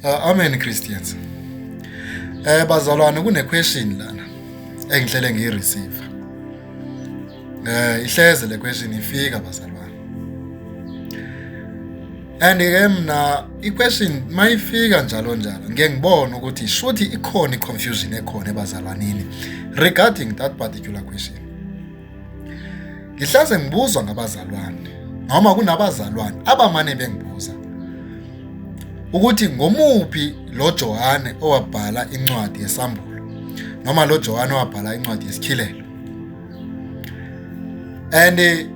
Uh, amen Christians. Eh bazalwane kune question lana engihlele ngiyi receive. Eh ihleze le question ifika bazalwane. And ke mina i question mayifika njalo njalo ngeke ngibone ukuthi shothi ikhona i confusion ekhona ebazalwanini regarding that particular question. Ngihlase ngibuzwa ngabazalwane noma kunabazalwane abamane bengibuza ukuthi ngomuphi lo Johane owabhala incwadi yesambulo noma lo Johane owabhala incwadi yesikhilelo and eh,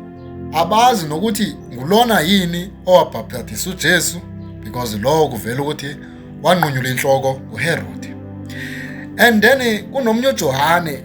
abazi nokuthi ngulona yini owabhaptadisa uJesu because lowo kuvela ukuthi wanqunyula inhloko uHerode and then eh, kunomnye uJohane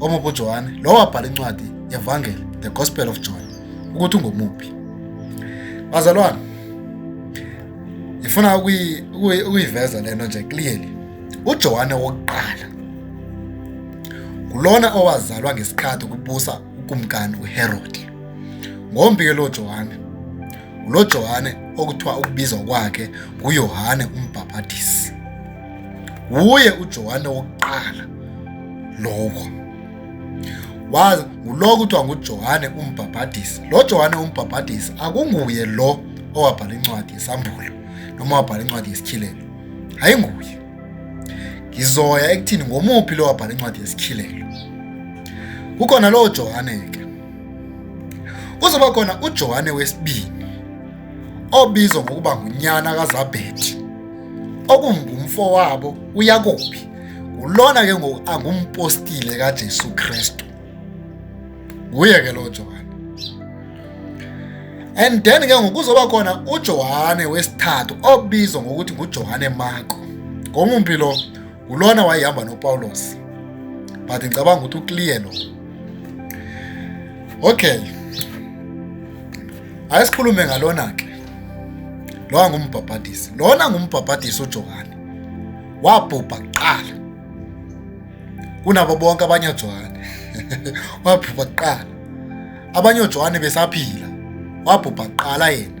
Omuphi uJohane? Lowo wabhala incwadi yevangeli The Gospel of John ukuthi ungomuphi. Bazalwane, ngifuna ukuyiveza lento nje clearly. UJohane wokuqala ngulona owazalwa ngesikhathi kubusa ukumkani uHerode. Ngombike lo Johane ulo Johane okuthiwa ukubizwa kwakhe nguYohane uMbhaphathisi. Wuye uJohane wokuqala lokho. Wazi ngulo kuthiwa nguJohane umbhabhadisi. Lo Johane umbhabhadisi akunguye lo owabhala incwadi yesAmbulo noma wabhala incwadi yesikhilelo. Ayinguye. Ngizoya ekuthini ngomuphi lo wabhala incwadi yesikhilelo. Kukhona lo Johane ke. Kuzoba khona uJohane wesibili obizwa ngokuba ngunyana kaZabhedi. okumbi umfowabo uyakobi ulona ke ngoku angumpostile kaJesu Kristu nguye ke lo Johane and then ke ngoku kuzoba khona uJohane wesithathu obizwa ngokuthi nguJohane Marko ngomumphi lo ngulona wayehamba nopawulos but ngicabanga ukuthi ukliye lo okay ayesikhulume ngalona ke lowa ngumbhabhadisi lona ngumbhabhadisi ujohane wabhubha kuqala kunabo bonke abanye ojohane wabhubha kuqala abanye ojohane besaphila wabhubha kuqala yena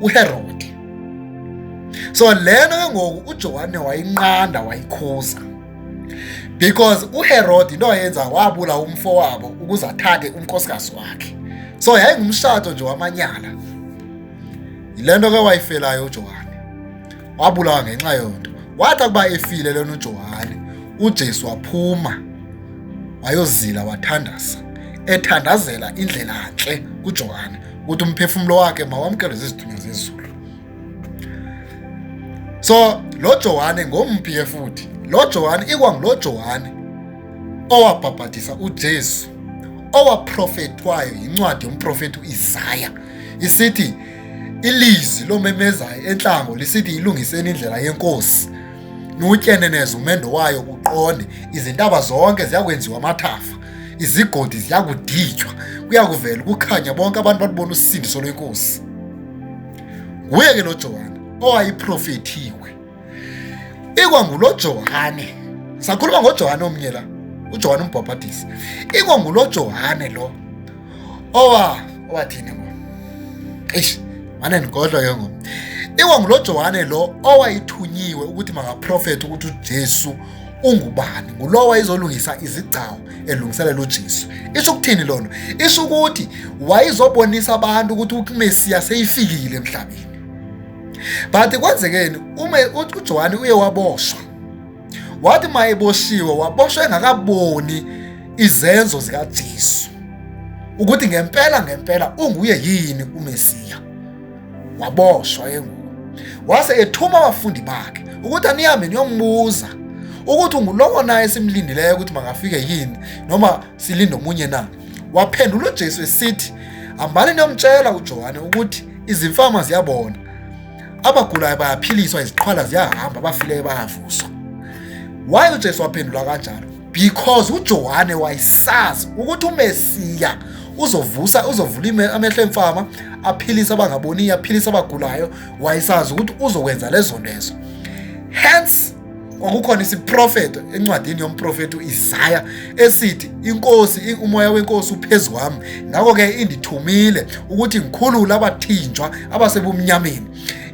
uHerode so lena ke ngoku uJohane wayinqanda wayikhuza because uHerode into ayenza wabula umfo wabo ukuze athathe unkosikazi wakhe so yayingumshado nje wamanyala yilento ke wayifelayo uJohane wabulawa ngenxa yonto wathi akuba efile lona uJohane uJesu waphuma wayozila wathandaza ethandazela indlela ntle kuJohane ukuthi umphefumulo wakhe mawamkele zizithunywa zezulu so lo Johane ngomphi ke futhi lo Johane ikwangulo Johane owabhabhadisa uJesu owaprofethwayo yincwadi yomprofethi uIsaya isithi ilizwi lomemezayo enhlango lisithi ilungiseni indlela yenkosi niwutyeneneze umendo wayo uqonde izintaba zonke ziyakwenziwa amathafa izigodi ziyakuditshwa kuyakuvela ukukhanya bonke abantu balubona usindiso lwenkosi nguye ke lo Johane owayiprofethiwe ikwangulo Johane sakhuluma ngoJohane omnye la uJohane umbhabhadisi ikwangulo Johane lo owa owathini ngo eish mane ngigodlo ke ngo ikwangulo Johane lo owayithunyiwe ukuthi makaprofethe ukuthi uJesu ungubani ngulowo wayezolungisa izigcawu elungiselela uJesu isho ukuthini lona isho ukuthi wayezobonisa abantu ukuthi uMesiya seyifikile emhlabeni but kwenzekeni uma uJohane uye waboshwa wathi mayeboshiwe waboshwa engakaboni izenzo zikaJesu ukuthi ngempela ngempela unguye yini uMesiya waboshwa enguko wase ethuma abafundi bakhe ukuthi anihambe niyombuza ukuthi ungulowo naye simlindileyo ukuthi makafike yini noma silinde omunye na waphendula uJesu esithi hambani niyomtshela uJohane ukuthi izimfama ziyabona abagulayo bayaphiliswa iziqhwala ziyahamba abafileyo bayavuswa waye uJesu waphendula kanjalo because uJohane wayesazi ukuthi uMesiya uzovusa uzovula amehlo emfama aphilise abangaboniyo aphilise abagulayo wayesazi ukuthi uzokwenza lezo ntezo hence kwakukhona isiprofeto encwadini yomprofethi u-isaya esithi inkosi umoya wenkosi uphezu kwami ngakho-ke indithumile ukuthi ngikhulule abathinjwa abasebumnyameni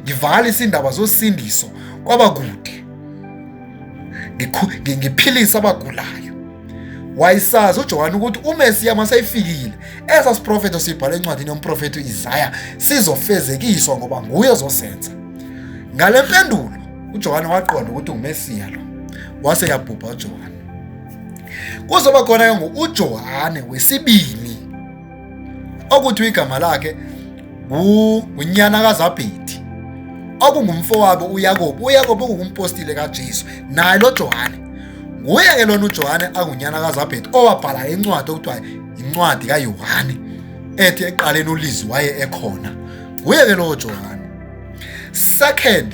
ngivalise indaba zosindiso kwabakude ngiphilise abagulayo wayisazi uJohane ukuthi uMesiya maseyifikile esa siprofeto sibhala encwadini yomprofeto Isaya sizofezekiswa ngoba nguye ozosenza ngale mpendulo uJohane waqonda ukuthi uMesiya lo wase yabhubha uJohane kuzoba khona ke ngo uJohane wesibili okuthi igama lakhe unyana kaZabhidi okungumfowabo uYakobe uYakobe ungumpostile kaJesu naye lo Johane nguye ke lona uJohane angunyana kaZabhedi owabhala incwadi okuthiwa incwadi kaYohane ethi eqaleni uLizwi waye ekhona nguye ke lowo Johane second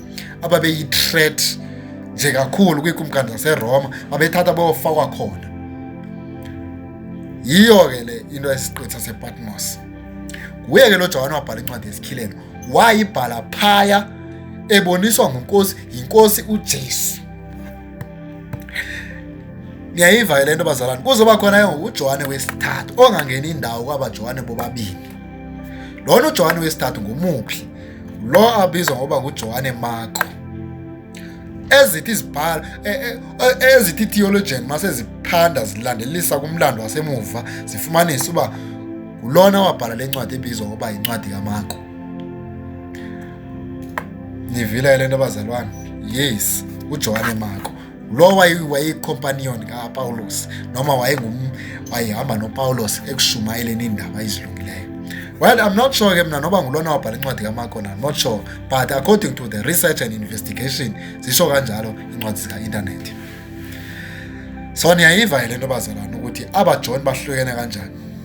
ababeyi-threat nje kakhulu kwiikumkani zaseroma babethatha bayofakwa khona yiyo ke le into yesiqithi sasepatmos nguye ke lo johane wabhala incwadi yesikhilelo wayibhala phaya eboniswa ngunkosi yinkosi ujesu niyayiva ke le nto bazalwane kuzoba khona ke ngokujohane wesithathu ongangeni indawo kwabajohane bobabini Lona uJohane wesithathu ngumuphi? Lo abizwa ngoba nguJohane Marko. Ezithi izibhalo e, e, e, ezithi theologian mase ziphanda zilandelisa kumlando wasemuva zifumanisa uba ngulona wabhala lencwadi ebizwa ngoba yincwadi kaMarko. Nivile le nto bazalwane. Yes, uJohane Marko. lo wayeyicompanion kapawulos noma wayehamba nopawulos ekushumayeleni indaba ezilungileyo well i'm not sure ke mna noba ngulona wabhala incwadi kamarko na not sure but according to the research and investigation zisho kanjalo incwadi zika-intanethi so niyayiva yile nto bazalwana ukuthi abajoni bahlukene kanjani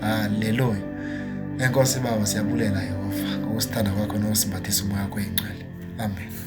Haleluya. Enkosi Baba siyabulela Yehova ngokusithanda kwakho nokusimbathisa umoya wakho oyingcwele. Amen.